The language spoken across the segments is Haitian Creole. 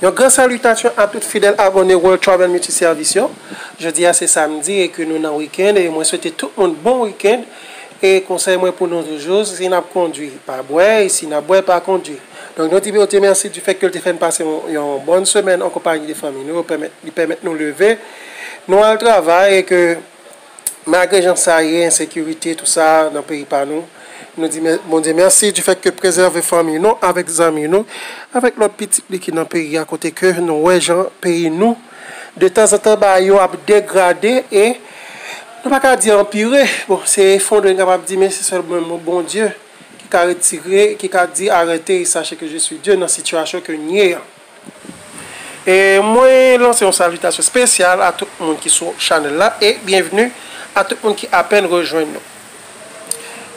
Yon gran salitasyon a tout fidèl abòne World Travel Multi Service yo. Jodi a se samdi e ke nou nan wikend e mwen swete tout moun bon wikend e konsèy mwen pou nou toujou si nap kondwi pa bwè e si nap bwè pa kondwi. Donk nou di Bondye mèsi du fè ke l te fè n pase yon bòn semèn an konpayi de fanmi nou yo pèmèt li pèmèt nou leve. Nou al travay e ke malgre jan sa ye, ensekirite tou sa nan peyi pa nou, nou di Bondye mèsi di fèt ke prezève fanmi nou avèk zanmi nou, avèk lòt pitit li ki nan peyi a kote ke nou wè jan peyi nou de tanzantan bagay yo ap degrade e nou pa ka di anpire, bon se efondre n kapab di men se sèlman Bondye ki ka retire, ki ka di arete e sache ke je swi Dye nan sitiyasyon ke n ye an. E mwen lanse yon salitasyon spesyal a tout moun ki sou chanèl la e byenvni a tout moun ki apèn rejwenn nou.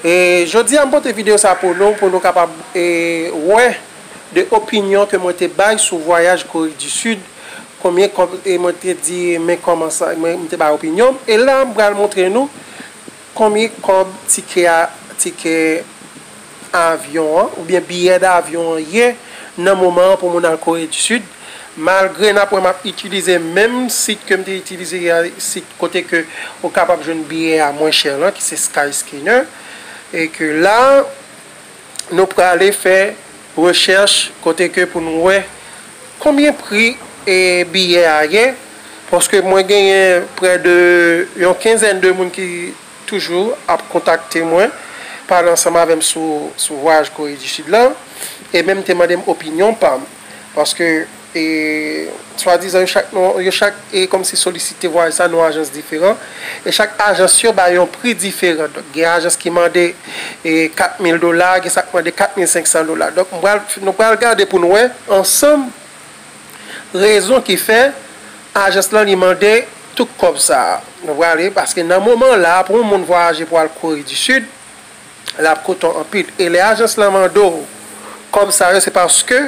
E jodi a m pote videyo sa pou nou pou nou kapab e wè de opinyon ke mwen te bay sou vwayaj Kore di Sid konbyen kòb e mwen te di men kòman sa mwen te bay opinyon m e la m pral montre nou Konbyen kòb tikè a tikè avyon an oubyen biyè davyon an ye nan moman an pou moun al Kore di Sid? Malgre n ap wè m ap itilize menm sit ke m te itilize yè a, sit kote ke ou kapab jwenn biyè a mwen chè lan ki se Skyscanner e ke la, Nou prale fè rechèch kote ke pou nou wè konbyen pri biyè a ye, paske mwen genyen prè de yon kenzèn de moun ki toujou ap kontakte mwen, pale ansanm avè m sou vwayaj Kore di Sid lan, e menm te mande m opinyon pa m. Paske e swadizan yo chak nou yo chak e kòmsi solisite vwayaj sa nou ajans diferan. E chak ajans yo bay yon pri diferan. Donk gen ajans ki mande e 4000 dola, gen sa k mande 4500 dola. Donk m pral nou pral gade pou n wè ansanm rezon ki fè ajans lan li mande tout kòb sa a. Nou prale paske nan moman la pou yon moun vwayaje pou al Kore di Sid, l ap koute w anpil. E lè ajans lan mande w kòb sa yo, se paske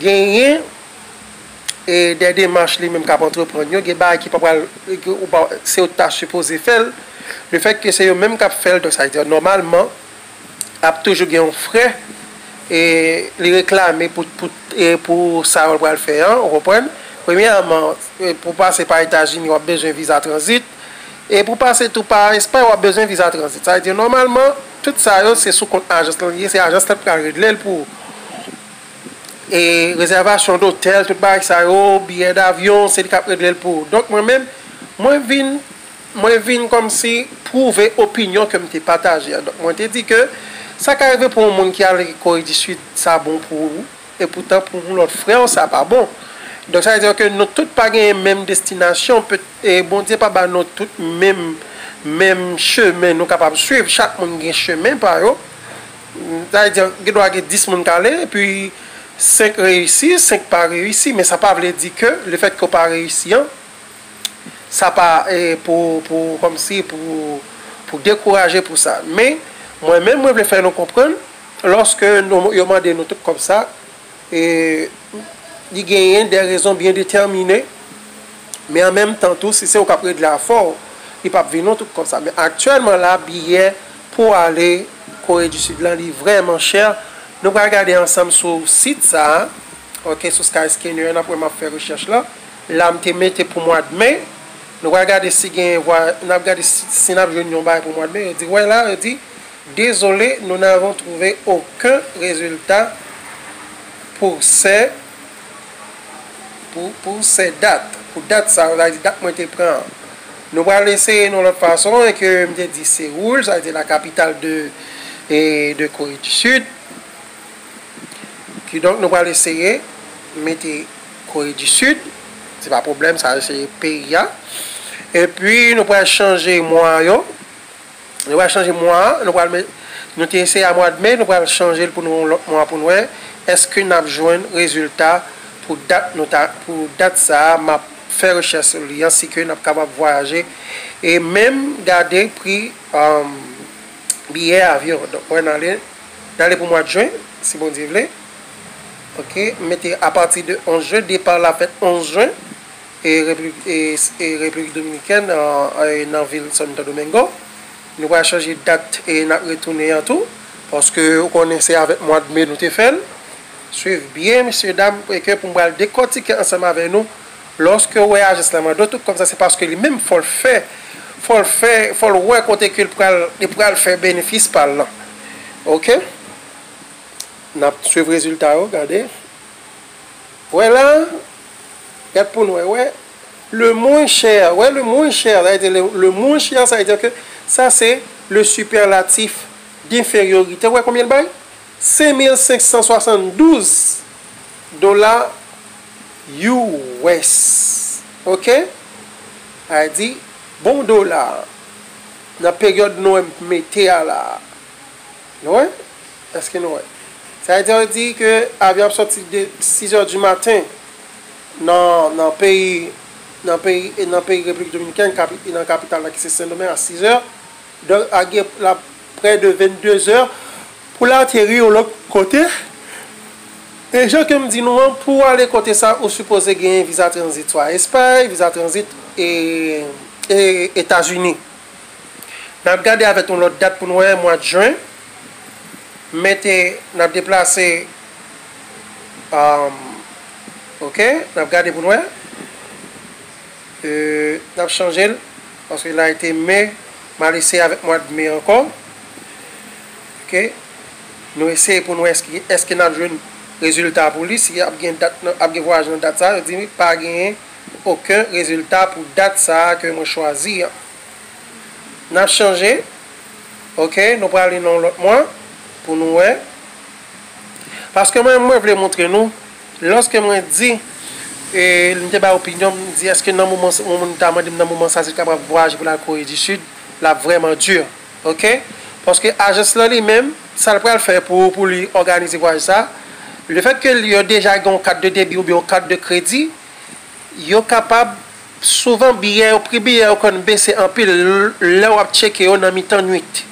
genyen dè demach li menm k ap antreprann yo, gen bagay ki pa pral, se yo ki ta sipoze fè l, lefètke se yo menm k ap fè l, donk sa vle di nòmalman ap toujou gen yon frè li reklame pou sa yo l pral fè an, ou konprann. Premyèman, pou w pase pa Etazini, w ap bezwen viza tranzit. E pou pase tou pa Espay wap bezwen viza tranzit. Sa vle di nòmalman tout sa yo se sou kont ajans lan li ye, se ajans lan ki pral regle l pou ou. E rezèvasyon dotèl, tout bagay sa yo, biyè davyon, se li kap regle l pou ou. Donk mwen menm, mwen vin, mwen vin kòmsi pwouve opinyon ke m te pataje a. Donk mwen te di ke sa ka rive pou yon moun ki ale Kore di Sid sa bon pou ou. E poutan pou yon lòt frè w sa pa bon. Donk sa vle di ke nou tout pa genyen menm destinasyon, Bondye pa ba nou tout menm menm chemen nou kapab swiv, chak moun gen chemen pa yo. Sa vle di gen dwa gen 10 moun k ale epi 5 reyisi, 5 pa reyisi, men sa pa vle di ke lefètke w pa reyisi an sa pa pou pou kòmsi pou pou dekouraje pou sa. Men mwen menm mwen vle fè nou konprann. Lòske nou yo mande nou tout kòb sa, li genyen dè rezon byen detèmine, men an menm tan tou si se ou k ap regle afè w, li p ap vin non tout kòb sa. Men aktyèlman la biyè pou ale Kore di Sid lan li vrèman chè. Nou pral gade ansanm sou sit sa a, ok, sou Skyscanner, n ap wè m ap fè rechèch la. La m te mete pou mwad me, nou pral gade si genyen vwa, n ap gade si n ap jwenn yon bagay pou mwad me, yo di wè la, yo di. Désolé, nous n'avons trouvé aucun résultat pour ce pour pour ce date, pou dat sa, sa vle di dat mwen te pran an. Nou pral eseye yon lòt fason e ke m te di Seoul, sa vle di la capitale de de Corée du Sud. Kidonk nou pral eseye mete Corée du Sud, se pa pwoblèm sa eseye peyi a. E pi nou pral chanje mwa yo. Nou pral chanje mwa a, nou pral nou te eseye a mwad me, nou pral chanje l pou nou yon lòt mwa pou n wè èske n ap jwenn rezilta pou dat nou ta pou dat sa a m ap fè rechèch sou li an si ke n ap kapab vwayaje e menm gade pri biyè avyon an. Donk wè n ale n ale pou mwad jen si Bondye vle ok m mete apati de 11 jen depa la fèt 11 jen. e Repiblik Dominikèn nan vil Santo Domingo. Nou pral chanje dat n ap retounen an tou paske ou konnen se avèk mwad me nou te fè l. Suiv byen mesye dam ke pou m pral dekòtike ansanm avèk nou. Lòske ou wè ajans la mande w tout kòb sa se paske li menm fò l fè fò l fè fò l wè kote ke li pral fè benefis pa l lan ok. N ap suiv rezilta yo gade. Wè la. Gad pou n wè, wè, le moins cher, wè, le moins cher, sa vle di, le moins cher, sa vle di ke sa se le superlatif d'infériorité, wè konbyen l bay? 5572 dola US. Ok? Sa vle di, bon dola a, nan peryòd nou menm mete a la a, Nou wè? Eske nou wè? Sa vle di yo di ke avyon ap sòti de 6 heures du matin nan nan peyi nan peyi e nan peyi République Dominicaine kapi e nan kapital la ki se Sendomeng a 6 heures donk a gen la près de 22 heures pou l ateri yon lòt kote e jan ke m di nou an pou w ale kote sa ou sipoze genyen visa tranzit swa Espay, visa tranzit e e Etazini. Nap gade avèt yon lòt dat pou n wè mwad juin men te nap deplase um ok nap gade pou n wè euh nap chanje l paske la ete me mal eseye avèk mwad me ankò ok nou eseye pou n wè eske eske nap jwenn rezilta pou li si ap gen dat ap gen vwayaj nan dat sa yo di pa genyen oken rezilta pou dat sa a ke mwen chwazi an. N ap chanje. Ok, nou prale nan yon lòt mwa pou nou wè. Paske mwen menm mwen vle montre nou, lòske mwen di, e m te bay opinyon m, m di èske nan moman sa, yon moun ta mande m nan moman sa si l kapab vwayaje pou l al Kore di Sid, l ap vrèman di. Ok? Paske ajans lan li menm, sa l pral fè pou pou li òganize vwayaj sa, lefètke li yo deja gen yon kat de debi oubyen yon kat de kredi, Yo kapab, Souvan biyè yo, pri biyè yo konn bese anpil lè w ap tcheke yo nan mitan nuit.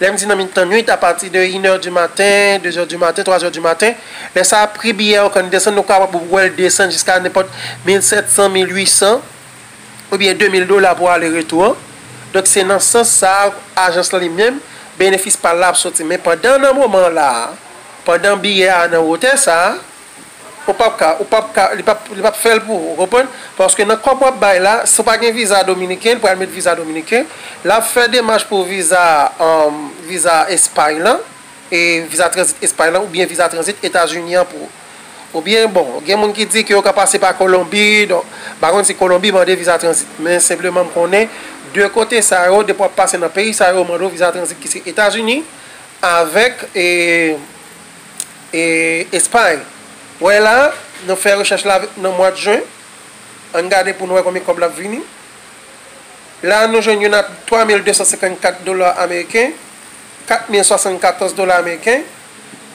Lè m di nan mitan nuit, apati de inè di maten, dezè di maten, twazè di maten. Lè sa a, pri biyè yo konn desann, ou kapab wè l desann jiska nenpòt mil sèt san, mil uit san oubyen de mil dola pou ale retou an. Donk se nan sans sa a, ajans lan li menm, benefis pa l la ap soti. Men pandan nan moman la a, pandan biyè a nan wotè sa a, Ou pap ka, ou pap ka, li pap, li pap fèl pou ou, ou konprann? Paske nan kòb wap bay la, si w pa gen viza dominiken, li pral met viza dominiken, lap fè demach pou viza, um, viza Espay lan, e viza tranzit Espay lan, oubyen viza tranzit Etazini an pou ou. Oubyen, bon, gen moun ki di ke yo ka pase pa Kolonbi, donk, m pa konn si Kolonbi mande viza tranzit, men senpleman m konnen, 2 kote sa yo, depi wap pase nan peyi sa yo, yo mande w viza tranzit ki se Etazini, avèk, e. E Espagne? Wè la, nou fè rechèch la nan mwad jen, ann gade pou nou wè konbyen kòb lap vini. La nou jwenn youn a 3254 dola ameriken, 4074 dola ameriken,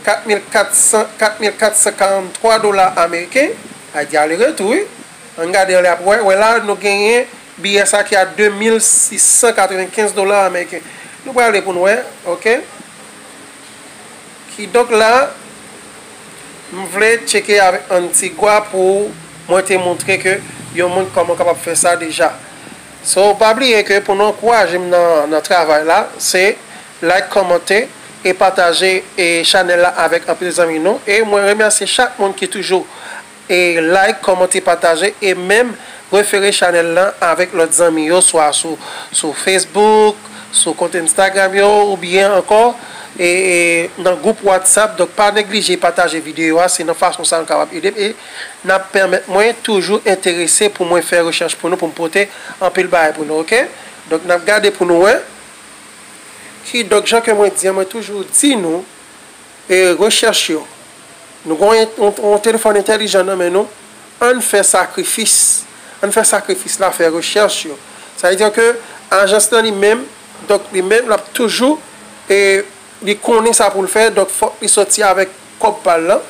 4400, 4443 dola ameriken, a di ale retou wi, ann gade anlè ap wè, wè la nou genyen biyè sa ki a 2695 dola ameriken. Nou prale pou nou wè, ok. Kidonk la, m vle tcheke avèk Antigua pou mwen te montre ke yon moun kòm ou kapab fè sa deja. So, pa bliye ke pou nou ankouraje m nan travay la, se like, kòmante e pataje chanèl la avèk anpil zanmi nou. E mwen remèsye chak moun ki toujou. E like kòmante pataje e menm refere chanèl lan avèk lòt zanmi yo swa sou sou Facebook sou kont Instagram yo ou byen ankò e nan gwoup WhatsApp donk pa neglije pataje videyo a se nan fason sa nou kapab edem e nap pèmèt mwen toujou enterese pou mwen fè rechèch pou nou poum pote anpil bagay pou nou ok donk nap gade pou nou wè kidonk jan ke mwen di an mwen toujou di nou E rechèch yo. Nou gen yon telefòn entèlijan nan men nou, ann fè sakrifis, ann fè sakrifis la fè rechèch yo. Sa vle di ke ajans nan li menm, donk li menm l ap toujou e li konnen sa pou l fè, donk fòk li sòti avèk kòb pa l lan,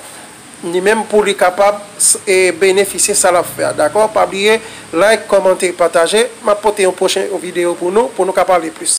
li menm pou li kapab e benefisye sa l ap fè a. Dakò? Pa bliye like, kòmante, pataje. M ap pote yon pwochen videyo pou nou, pou nou ka pale plis.